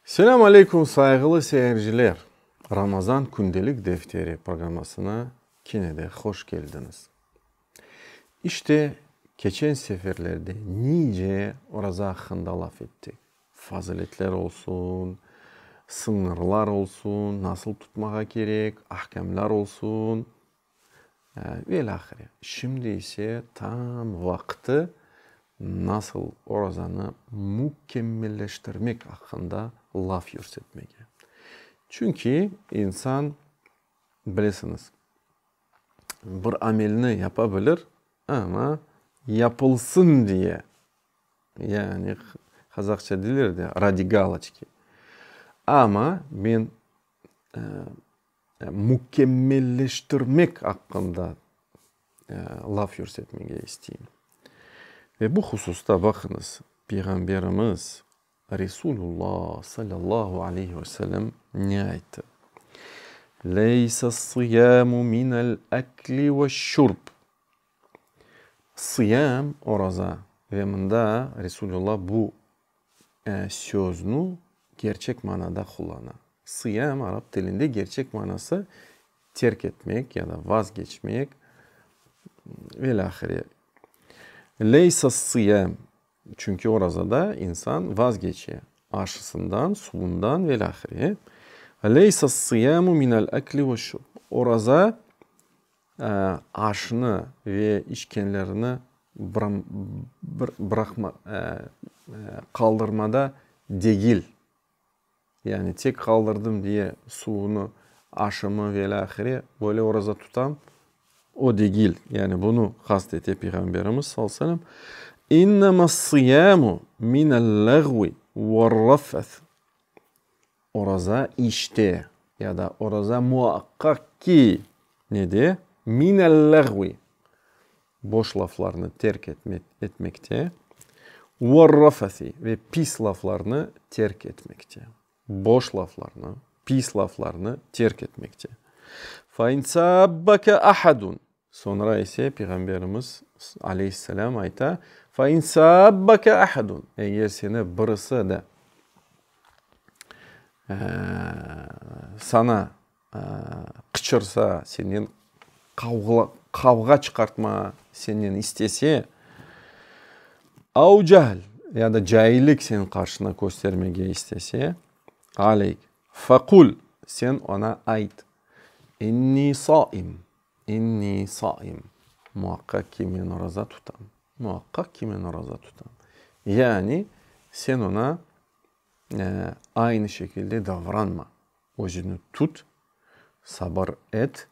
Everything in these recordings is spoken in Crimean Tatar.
Selâm aleykum sayğılı seyirciler! Ramazan kündelik defteri programmasına kene de hoş keldiñiz. İşte, keçen seferlerde nice oraza aqqında laf ettik, faziletler olsun, sıñırlar olsun, nasıl tutmağa kerek, ahkâmlar olsun. Ve ilâhre, şimdi ise tam vaqtı nasıl orazanı mükemmelleştirmek aqqında laf yürsetmege. Çünki insan, bilesiñiz, bir amelni yapa bilir, amma yapılsın diye, yani qazaqça deyler de, radi galoçki. Amma men mükemmelleştirmek aqqında laf yürsetmege isteyim. Ve bu hususta, baqıñız, Peyğamberimiz Resulullo sallallahu aleyhi ve sellem ne ayttı? Leysessıyamu minel ekli ve şurb. Sıyam, oraza, ve mında Resulullo bu söznü kerçek manada qullana. Sıyaem arap tilinde kerçek manası terk etmek ya da vazgeçmek velâhire. Leysas-sıyaem, çünki orazada insan vazgeçe, aşısından, suvundan velâhire. Leysas-sıyaemu minel-ekli ve şurb, oraza Aşnı ve içkenlerini qaldırmada degil, yani tek qaldırdım diye suvunı, aşımı ve ilâ ahire, böyle oraza tutam, o degil, yani bunı qast ete Peyğamberimiz sallallahu aleyhi ve sellem. İnnemâs-sıyâmu minel-lâğvi ve'r-rafeth. Oraza işte ya da oraza muaqqaq ki ne de minel-lağvi, boş laflarnı terk etmekte, vel-rafasi ve pis laflarnı terk etmekte, boş laflarnı, pis laflarnı terk etmekte. Fe in sâbbeke ahadun, Soñra ise Peyğamberimiz, aleyhisselâm, ayta, Fe in sâbbeke ahedun, eger seni birisi de sana qıçırsa, senden qavğa çıqartmağa senden istese, av cehl, ya da caillik senin qarşına köstermege istese, aleyk, fe qul, sen oña ayt, inni saim, İnni saim, muaqqaq ki, men oraza tutam, muaqqaq ki, men oraza tutam. Yani, sen oña aynı şekilde davranma, özüni tut, sabır et,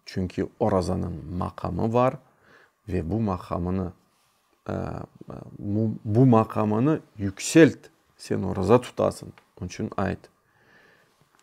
çünki orazanıñ maqamı bar ve bu maqamını, bu maqamını yükselt, sen oraza tutasıñ, onı içün ayt,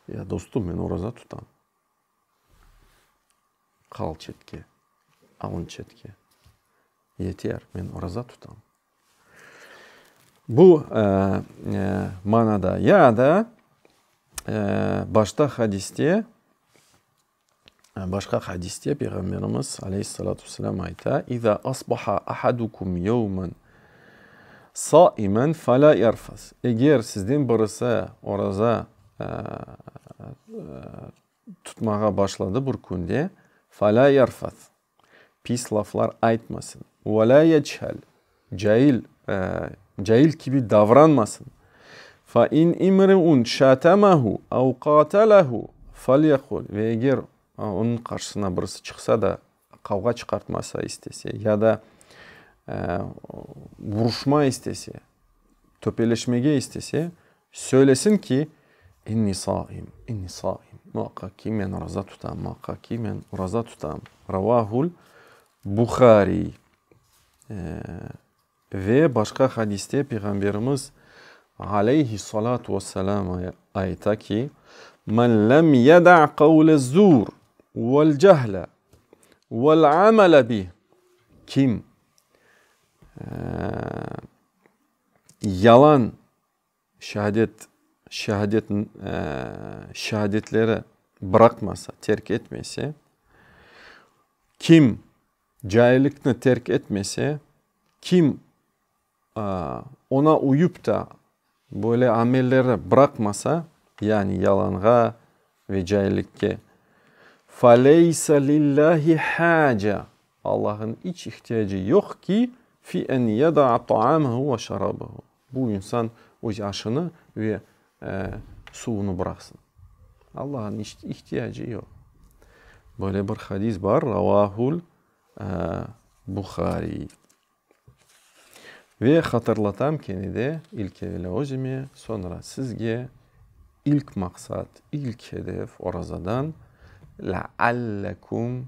Ya dostum, men oraza tutam. Qal çetke, alın çetke. Yeter, men oraza tutam. Bu manada ya da başta hadiste, başqa hadiste Peyğamberimiz aleyhissalâtu vesselâm ayta: İza asbaha ahadukum yevmen saimen fe la yerfus. Eger sizden birisi oraza. tutmağa başladı bir künde, Falâ yarfas, pis laflar aytmasın, ve lâ yechal, cail, cail kibi davranmasın, fe in imri'un şâtemehu ev qâtelehu, felyekul, ve eger onıñ qarşısına birisi çıqsa da Qavğa çıqartmasa istese ya da vuruşma istese, töpeleşmege istese, söylesin ki, İnni saim, inni saim, muaqqaq ki, men oraza tutam, muaqqaq ki, men oraza tutam. Ravahul Buhariy. Ve başqa hadiste Peyğamberimiz, aleyhissalâtu vesselâm, ayta ki, Men lem yeda' qavlez-zur vel-cehle vel-amele bih, Kim yalan Şehadet, şehadet, şehadetleri bıraqmasa, terk etmese, kim caillikni terk etmese, kim oña uyıp da böyle amelleri bıraqmasa, yani yalanğa ve caillikke, faleysa lillahi haca, Allah'ın iç ihtiyacı yoq ki, fi en yada'a taamahu ve şarabahu, Bu insan öz aşını ve suvunı bıraqsın. Allağa ihtiyacı yoq. Böyle bir hadis bar, Ravahul Buhariy. Ve hatırlatam kene de, ilk evel özüme, soñra sizge, ilk maqsat, ilk hedef orazadan, Leallekum